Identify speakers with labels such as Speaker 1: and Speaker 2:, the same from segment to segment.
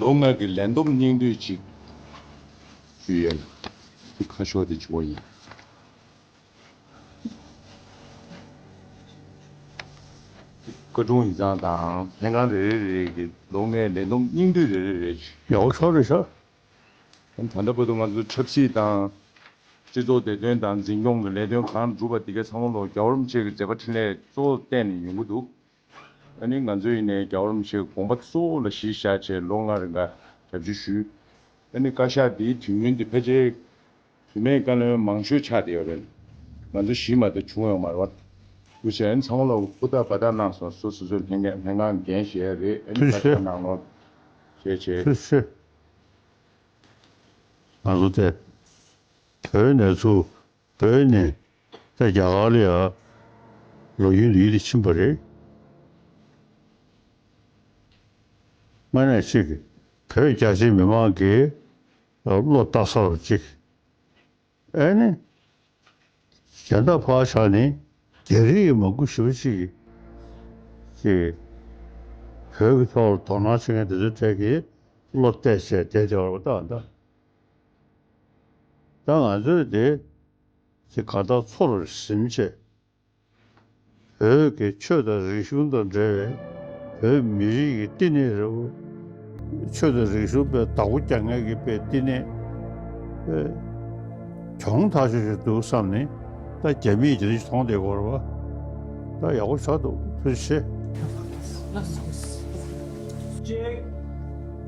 Speaker 1: ལོ་ལྔ་གི་ལས་འདོམས་སྙིང་བསྡུས་ཅིག། ཞུ་ཡས་ལ། འདི་ཁ་ཤོ་དེ་ཆུ་བོ་ཡིན། སྐུ་གདུང་ཡིག་ཚང་དང་ལྷན་ཁང་རེ་རེ་རེ་གི་ལོ་ལྔའི་ལས་བསྡོམས་སྙིང་བསྡུས་རེ་རེ་རེ་ཞལ་འོ་ཕྱོགས་རེ་
Speaker 2: ཕྱོགས། ད་
Speaker 1: ལྟ་བར་དུ་ང་ཚོའི་ཆབ་སྲིད་དང། སྤྱི་ཚོགས་བདེ་དོན་དང་འཛིན་སྐྱོང་གི་ལས་དོན་གང་སྒྲུབ་པ་དེ་གའི་ཚང་མ་ལོ་བརྒྱ་བར་མ་ཆད་ཀྱི་མཛད་པ་འཕྲིན་ལས་གཙོ་བོར་བསྟན་ནས་ཡོང་གི་འདུག་ད་ནི་ང་ཚོས་ཡིན་ནའི་རྒྱ་གར་མི་ཆེན་དགོངས་པ་གཙོ་བོ་ལ་གཞི་བཞག་ཆེད་ལོ་ལྔ་རེ་འགའ་ཞབས་ཕྱི་ཞུས། ད་ནི་བཀའ་ཤག་འདིའི་དུས་ཡུན་འདི་ཕལ་ཆེར་དུས་མེད་བཀའ་བློན་མང་ཤོས་ཆགས་བསྡད་ཡོད་རེད། ང་ཚོ་གཞི་མ་དེ་བྱུང་ཡོང་མ་རེད། དུས་ཆེན་ཚང་མ་ལ་ཧུར་ཐག་འབའ་ཐག་གནང་སོང་སུ་སོ་སོའི་ལྷན་ཁང་ལྷན་ཁང་འགན་བཞེས་ཡ་རེད་ཨ་ནི་བཀའ་ཤག་གནང་ནོ། ཞེས་བྱས། སུ་ཞུ།
Speaker 2: ང་ཚོ་སྟེ། བོད་ནས་ཚུར་བོད་ནས་ད་རྒྱ་གར་ལ་ཡར་ལོག་རྒྱུའི་ལུས་དེ་ཕྱིན་པ་རེད། དངོས་གནས་གཅིག་བོད་རྒྱ་ཆེའི་མི་མང་གིས་བློ་བཏགས་ས་རུ་གཅིག་ཨེ་ནི། རྒྱ་མདའ་བག་ཆགས་ནི་རྒྱ་རིགས་ཀྱི་མ་སྐུ་ཞི་བ་གཅིག་གིས་ཀྱི་བོད་ཀྱི་ཐོག་ལ་དོ་སྣང་བྱེད་མཁན་དེ་ཚོའི་གྲས་ཀྱིས་བློ་གཏད་བྱས་བསྡད་བསྡད་པ་རེད་པ་ད་ཨ་མདའ། ད་ང་ཚོས་དེ་ཚེ་ག་དག་ཚོར་བའི་ཟིན་བྱེད་བོད་ཀྱི་ཆོས་དང་རིག་གཞུང་དང་འབྲེལ་བའི་བོད་མི་རིགས་ཀྱི་བསྟི་གནས་རེད་བོ། ཆོས་དང་རིག་གཞུང་པའི་བདག་པོ་རྒྱ་ངན་གྱི་པའི་བསྟི་གནས་པའི་གྱོང་ཐག་ཆོད་ཅིག་འདུག་བསམ་ནས་ད་རྒྱ་མིས་དེ་རིང་ཐོང་དེ་སྐོར་བ་ད་ཡག་པོ་ཆགས་འདུག་ཕུལ་ཆེ། གཅིག།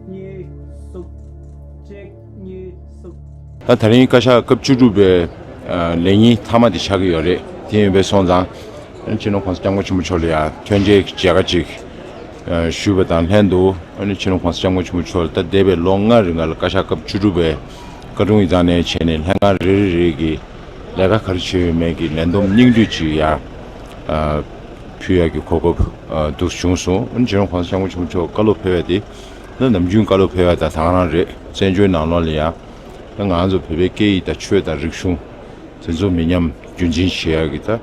Speaker 2: གཉིས། གསུམ།
Speaker 1: ད་ད་རིང་བཀའ་ཤག་སྐབས་བཅུ་དྲུག་པའི་ལས་ཉིན་མཐའ་མ་དེ་ཆགས་ཀྱི་ཡོད་རེད་དེ་ཡིན་པས་སོང་ཙང་ཕྱི་ནང་གོང་ས་སྐྱབས་མགོན་ཆེན་པོ་མཆོག་ལ་ཡང་ཐོན་སྐྱེད་མཇལ་ཁ་ཅིག་ཞུས་པ་དང་ལྷན་དུ་ཕྱི་ནང་གོང་ས་སྐྱབས་མགོན་ཆེན་པོ་མཆོག་ལ་ད་འདས་པའི་ལོ་ལྔ་རི་འགར་ལ་བཀའ་ཤག་སྐབས་བཅུ་དྲུག་པའི་བཀའ་དྲུང་ཡི་དྭགས་ནས་བྱས་ནས་ལྷན་ཁང་རེ་རེ་རེ་གི་ལས་ཀ་ག་རེ་བྱས་ཡོད་མེད་ཀྱི་ལན་འདོམས་སྙིང་བསྡུས་ཅིག་ཡང་ཕུལ་ཡག་གི་གོ་སྐབས་འདུག་བྱུང་སོང་ཕྱི་ནང་གོང་ས་སྐྱབས་མགོན་ཆེན་པོ་མཆོག་བཀའ་སློབ་ཕེལ་བས་དེ་ནི་ནམ་རྒྱུན་བཀའ་སློབ་ཕེབས་ཡ་དང་དང་རང་རེད་བཙན་བྱོལ་ནང་ལོག་ལ་ཡང། ང་ཚོ་བོད་པའི་སྐད་ཡིག་དང་ཆོས་དང་རིག་གཞུང། དེ་ཚོ་མི་ཉམས་རྒྱུན་འཛིན་བྱེད་ཡ་གི་ད།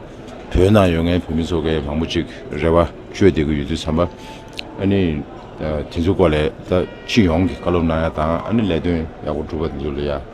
Speaker 1: བོད་ནང་ཡོད་མཁན་བོད་མི་ཚོ་གས་མང་པོ་ཅིག་རེ་བ་བཅོལ་བསྡད་གི་ཡོད་དུས་བསམ་པ། ཨཱ་ནི། དེ་ཚོའི་སྐོར་ལས་ད་སྤྱི་ཡོངས་ཀྱི་བཀའ་སློབ་གནང་ཡ་དང་ཨཱ་ནི་ལས་དོན་ཡག་པོ་སྒྲུབ་པ་དེ་ཚོ་ལ་ཡ།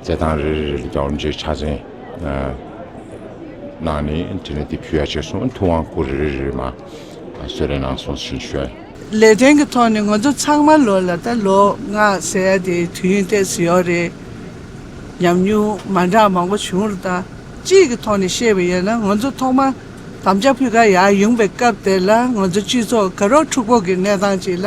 Speaker 1: རྩེད་ཐང་རེ་རེ་ལ་རྒྱང་རིང་ཅན་ཕྱག་མཚན་གནང་ནས་དེ་ནས་དེ་ཕུལ་བ་བྱས་སོང་ཐུབ་དབང་སྐུ་རེ་རེ་མ་གསོལ་རེ་གནང་སོང་ཞེས་བཤད། ལས་དོན་གྱི་
Speaker 3: ཐོག་ནས་ང་ཚོ་ཚང་མ་ལོ་ལ་ད་ལོ་ལྔ་ཟེར་ཡ་དེ་དུས་ཡུན་ཐེངས་སུ་ཡོད་རེད། ཉམས་མྱོང་མ་འདྲ་མང་པོ་བྱུང་རུ་དང་སྤྱིའི་གྱི་ཐོག་ནས་བཤད་པ་ཡིན་ན་ང་ཚོ་ཐོག་མ་དམ་བཅའ་ཕུལ་ཁ་ཡག་ཡོང་པའི་སྐབས་དེར་ལ་ང་ཚོ་སྤྱི་ཚོགས་དགའ་རོགས་འཁྲུག་པོ་གྱི་གནས་སྟངས་ཅིག་ལ་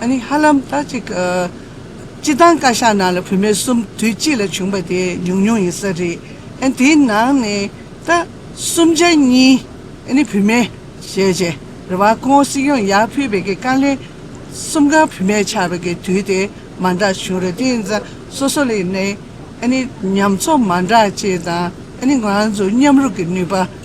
Speaker 3: ཨ་ནི་ཧ་ལམ་ད་ཅིག་སྤྱི་བཏང་བཀའ་ཤག་ནང་ལ་བུད་མེད་གསུམ་དུས་གཅིག་ལ་བྱུང་པ་དེ་ཉུང་ཉུང་ཡིན་ས་རེད་ཨ་དེའི་ནང་ནས་ད་གསུམ་ཆ་གཉིས་ཨ་ནི་བུད་མེད་བྱས་བྱས་རེད་བ་ཁོང་སྲིད་སྐྱོང་ཡག་ཕུད་པའི་དཀའ་ལས་གསུམ་ག་བུད་མེད་ཆགས་པའི་དཀའི་དུས་དེ་མ་འདྲ་བྱུང་རེད་དེ་ཡིན་ཙང་སོ་སོ་ལས་ནས་ཨ་ནི་ཉམས་ཚོ་མ་འདྲ་བཅས་དང་ཨ་ནི་ང་ཚོ་མཉམ་རུབ་ཀྱི་ནུས་པ།